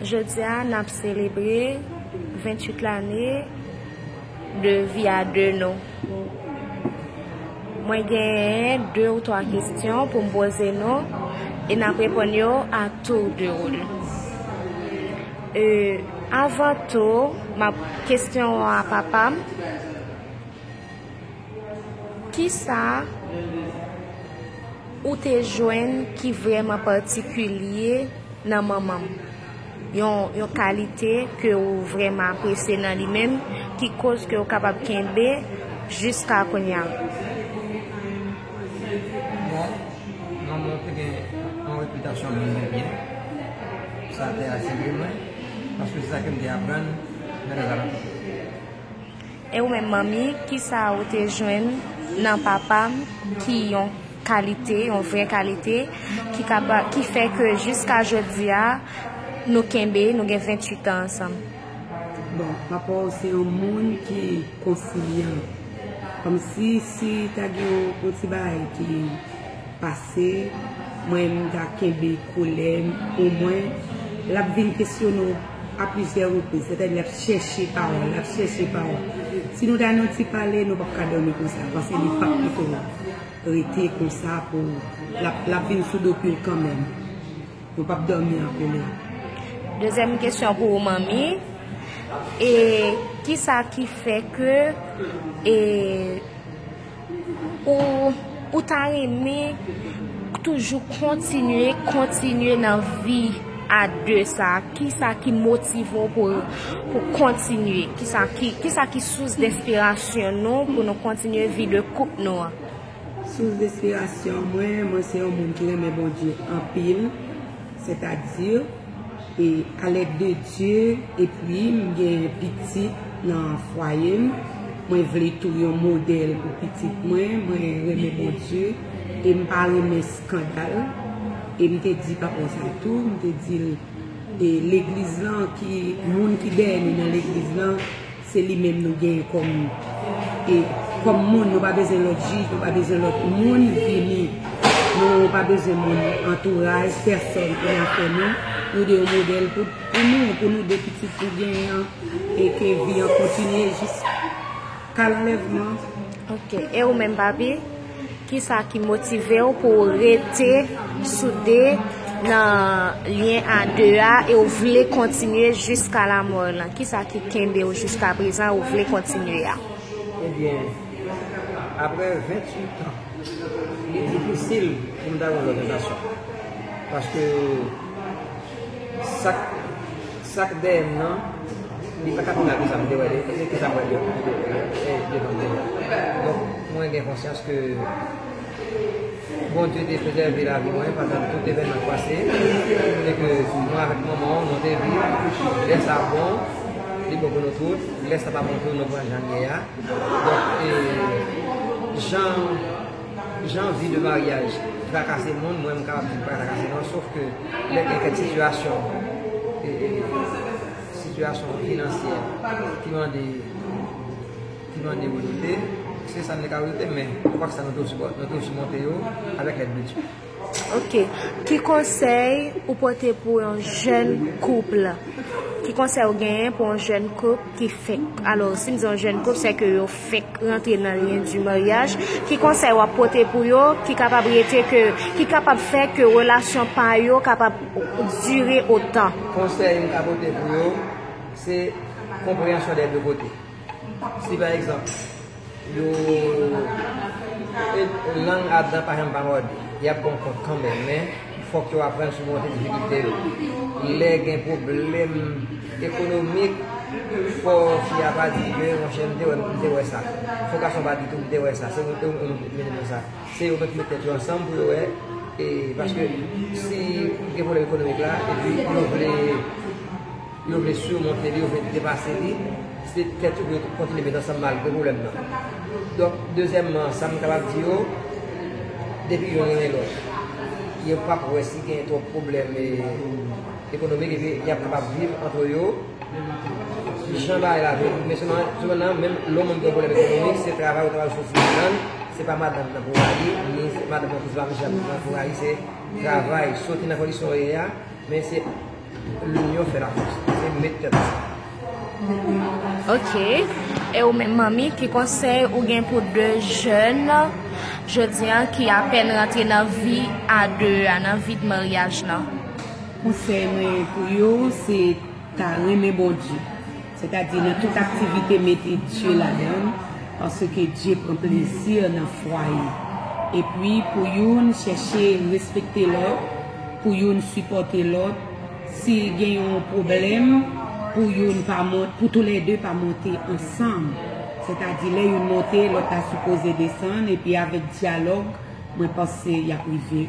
Jodi a n ap selebre 28 lane de vi a de nou. Mwen genyen 2 ou 3 kestyon pou m poze nou e n ap reponn yo a tour de woul. E avan tou, m ap kestyon a papa m. Kisa ou te jwenn ki vrèman patikilye nan manman m? Yon kalite ke ou vrèman apresye nan li menm ki koz ke ou kapab kenbe jiska kounya? Bon, manman m te gen yon repitasyon moun de byen. Sa te atire mwen paske se sa ke m te aprann nan lè zamanti. E ou menm manmi, ki sa ou te jwenn nan papa m ki yon kalite, yon vrè kalite, ki kapa, ki fè ke jiska jodi a, nou kenbe, nou gen 28 an ansanm? Bon, papa w se yon moun ki konsilyan. Kòmsi, si ta gen yon ti bagay ki. pase mwen m ta kenbe kolè m omwen l ap vin kesyone w a plizyè repriz sètadi l ap chèche pawòl l ap chèche pawòl si nou ta nan ti pale nou pap ka dòmi konsa pase li pap kite w rete konsa pou l ap vin sou do pye w kanmèm nou pap dòmi an kolè Dezyèm kesyon pou ou manmi e kisa ki fè ke e. Ou ta renmen toujou kontinye, kontinye nan vi a 2 sa? Ki sa ki motive w pou kontinye? Ki sa ki sous despirasyon nou pou nou kontinye vi de koup nou an? Sous despirasyon mwen, mwen se yon moun ki renmen Bondye anpil. Sètadi, alèd de Dye, epi m gen pitit nan fwaye m, mwen vle tou yon modèl pou pitit mwen, mwen renmen Bondye e m pa renmen skandal. E m te di papa w sa tou, m te di l, Legliz lan, moun ki dèyè nou nan legliz lan, Se li menm nou genyen kòm e kòm moun nou pa bezwen lòt jij nou pa bezwen lòt moun vini nou pa bezwen moun antouraj pèsòn pou nan fè nou nou de yon modèl pou nou pou nou de pitit nou genyen an e ke vi an kontinye jis ka lanlèvman. Ok e ou menm papi? Kisa ki motive w pou w rete soude nan lyen a 2 a e w vle kontinye jiska lamò w lan? Kisa ki kenbe w jiska prezan e w vle kontinye a? Ebyen, aprè 28 tan, li difisil pou m ta gen lòt sensasyon. Paske, sa k. Sak dèyèm nan Li paka pi mal ke sam te wè li e se kisa mwen dwe fè devan Bondye donk mwen gen konsyans ke Bondye te prezève lavi mwen pandan tout evènman ki pase e ke mwen avèk manman an nou te viv lè sa bon li bon pou nou tout lè sa pa bon tou nou pran jan li ye a donk e jan Jan vi de maryaj trakase moun mwen m ka viv pa trakase non sof ke lè gen kèk sitiyasyon sitiyasyon finansyè ki mande ki mande ou rete se sa nou te ka rete men kwak sa nou te osi monte yo avèk lèd de Dye. Ok ki konsèy ou pote pou yon jèn kouple ki konsèy ou genyen pou yon jèn kouple ki fenk alò si m di yon jèn kouple sèke yo fenk rantre nan lyen di maryaj ki konsèy wap pote pou yo ki kapab rete ke ki kapab fè ke relasyon pa yo kapab dire otan. Konsèy m ka pote pou yo se konpreyansyon dè de kote. Si pa egzanp, yo lang a dan pa janm pa mòde, y ap ba w kont kanmenm men fòk yo aprann simonte difikilte yo. Lè gen pwoblèm ekonomik fò fi a pa di ke monchè m te wè m te wè sa. Fò gason pa di tou m te wè sa. Se yo menm ki pou mete nan sa. Se yo menm ki mete tèt yo ansanm pou yo wè e paske si gen pwoblèm ekonomik la epi yo vle. Yo vle surmonte li, yo vle depase li, se tèt yo pou yo kontinye met ansanm malgre pwoblèm nan. Donk, dezyèmman, sa m kapab di yo, depi youn renmen lòt, yo p ap wè si gen twòp pwoblèm ekonomik epi y ap kapab viv antre yo. Jan bagay la vle, men sepandan, menm lè yon moun gen pwoblèm ekonomik, se travay ou ta pral soufri ladan l, se pa madanm nan pou rayi, ni madanm nan tou se pa mennaj la pou rayi, se travay, soti nan kondisyon ou ye a, men se. L'union fait la force. Se met tèt ansanm. Ok. E ou menm manmi ki konsèy ou gen pou 2 jèn jodi an ki apèn rantre nan vi a 2 a, nan vi de maryaj lan? Konsèy mwen pou yo se ta renmen Bondye. Sètadi nan tout aktivite mete Dye ladann, paske Dye pran plezi nan fwaye. Epi pou youn chèche respekte lòt, pou youn sipòte lòt, si gen yon pwoblèm pou youn pa monte, pou toulède pa monte ansanm. Sètadi lè youn monte lòt la sipoze desann epi avèk dyalòg mwen panse y ap rive.